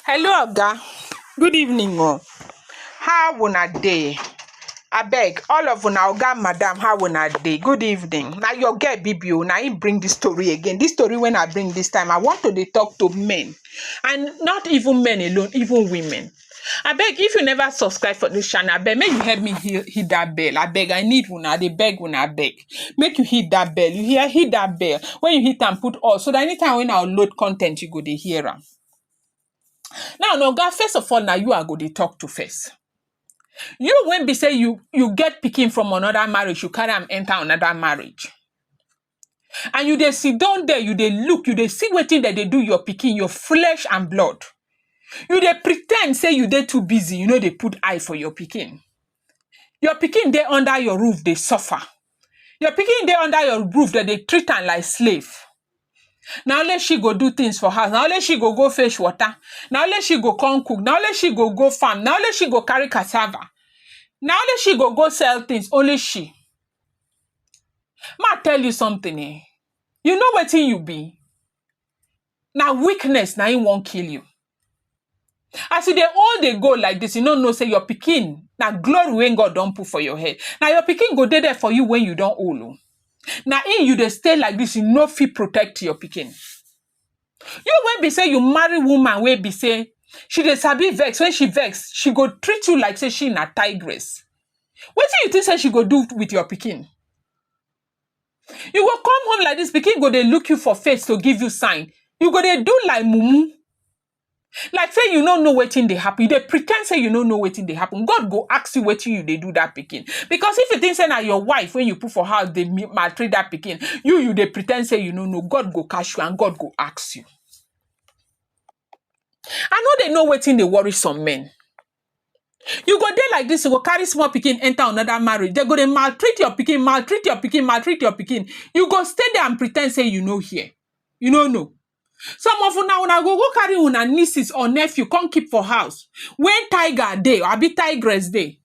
Hello oga, good evening o, how una dey? Abeg all of una oga and madam how una dey? Good evening, na your girl bibi o na im bring dis tori again, dis tori wey I bring dis time I want to dey talk to men and not even men alone even women I beg if you never subscribe for this channel, I beg make you help me hit, hit that bell. I beg, I need una. I dey beg una. I beg make you hit that bell. You hear? Hit that bell. When you hit and put all, so that anytime when I load content, you go dey hear am. Now, no, God, first of all, now you are go dey talk to first. You when be say you you get picking from another marriage, you carry am enter another marriage. and you dey sit down there you dey look you dey see wetin dem dey do your pikin your flesh and blood you dey pretend say you dey too busy you no dey put eye for your pikin your pikin dey under your roof dey suffer your pikin dey under your roof dem dey treat am like slave na only she go do things for house na only she go go fetch water na only she go come cook na only she go go farm na only she go carry cassava na only she go go sell things only she May I tell you something eh, you know wetin you be? Na weakness na im wan kill you. As you dey old dey go like dis, you no know sey your pikin na glory wey God don put for your head. Na your pikin go dey there for you wen you don old oh. Na im you dey stay like dis, you no fit protect your pikin. You wey be sey you marry woman wey be sey she dey sabi vex, when she vex, she go treat you like sey she na tigress. Wetin you think sey she go do with your pikin? You go come home like dis, pikin go dey look you for face to give you sign, you go dey do like mumu. Like say you no know wetin dey happen. You dey pretend say you no know wetin dey happen. God go ask you wetin you dey do that pikin. Because if you think say na your wife when you put for house dey mi- maltreat that pikin, you you dey pretend say you no know. God go catch you and God go ask you. I know they know wetin dey worry some men. You go dey like this, you go carry small pikin enter another marriage. They go dey maltreat your pikin, maltreat your pikin, maltreat your pikin. You go stay there and pretend say you no hear. You no know. Some of una una go go carry una nieces or nephew come keep for house when tiger dey or abi tigress dey.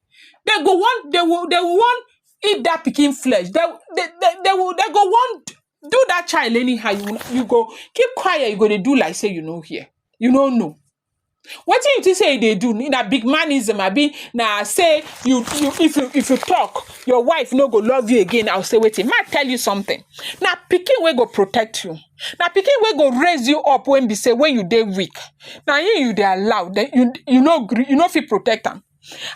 They go want they will they will want eat that pikin flesh. They they they they will they go want do that child anyhow. You you go keep quiet, you go dey do like say you no hear, you no know. Wetin you think say you dey do na big manism abi na say you you if you if you talk your wife no go love you again or say wetin make I tell you something na pikin wey go protect you na pikin wey go raise you up wey be say when you dey weak na him you dey allow then you you no gree you no fit protect am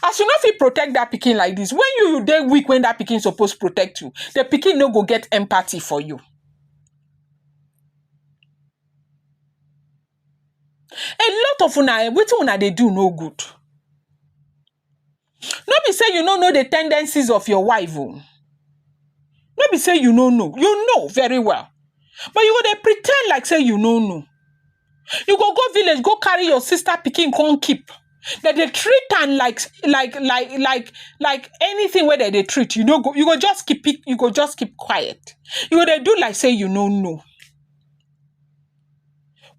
as you no fit protect that pikin like this when you you dey weak when that pikin suppose protect you the pikin no go get empathy for you A lot of una um wetin una dey do no good. No be sey you no know the ten dencies of your wife oh. No be sey you no know, you know very well. But you go dey pre ten d like sey you no know. You go go village go carry your sister pikin con keep. De dey treat am like like like like like anything wey de dey treat. You no go you go just keeping you go just keep quiet. You go dey do like sey you no know.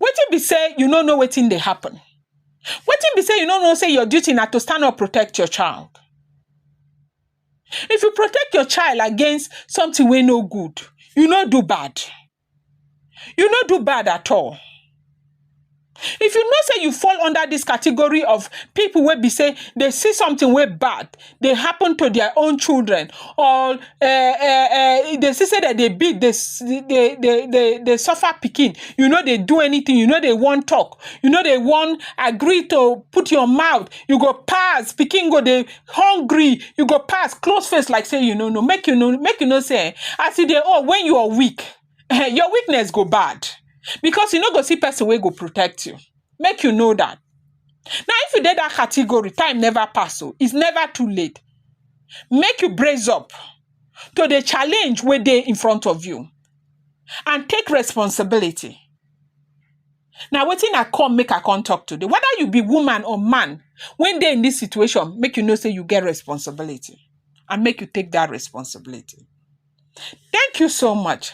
Wetin be sey you no know wetin dey happen? Wetin be sey you no know sey your duty na to stand up protect your child? If you protect your child against something wey no good, you no do bad. You no do bad at all. If you know sey you fall under dis category of pipu wey be sey they see something wey bad, dey happen to their own children or um um dey see sey dem dey beat dey dey dey dey dey suffer pikin you no dey do anything you no dey wan talk you no dey wan agree to put your mouth you go pass pikin go dey hungry you go pass close face like sey you no know make you no make you no sey um as you dey old when you are weak um your weakness go bad because you no go see person wey go protect you make you know dat. Now if you dey dat category time never pass oh, it's never too late make you brace up to the challenge wey dey in front of you and take responsibility. Na wetin I come make I come talk today whether you be woman or man wey dey in dis situation make you know sey you get responsibility and make you take dat responsibility. Thank you so much.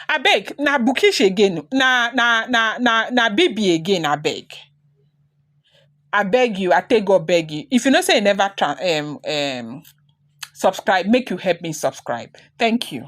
Abeg, na Bukish again. Na na na na na Bibi again, abeg. I beg you, I take God beg you. If you know say you never try, um um subscribe, make you help me subscribe. Thank you.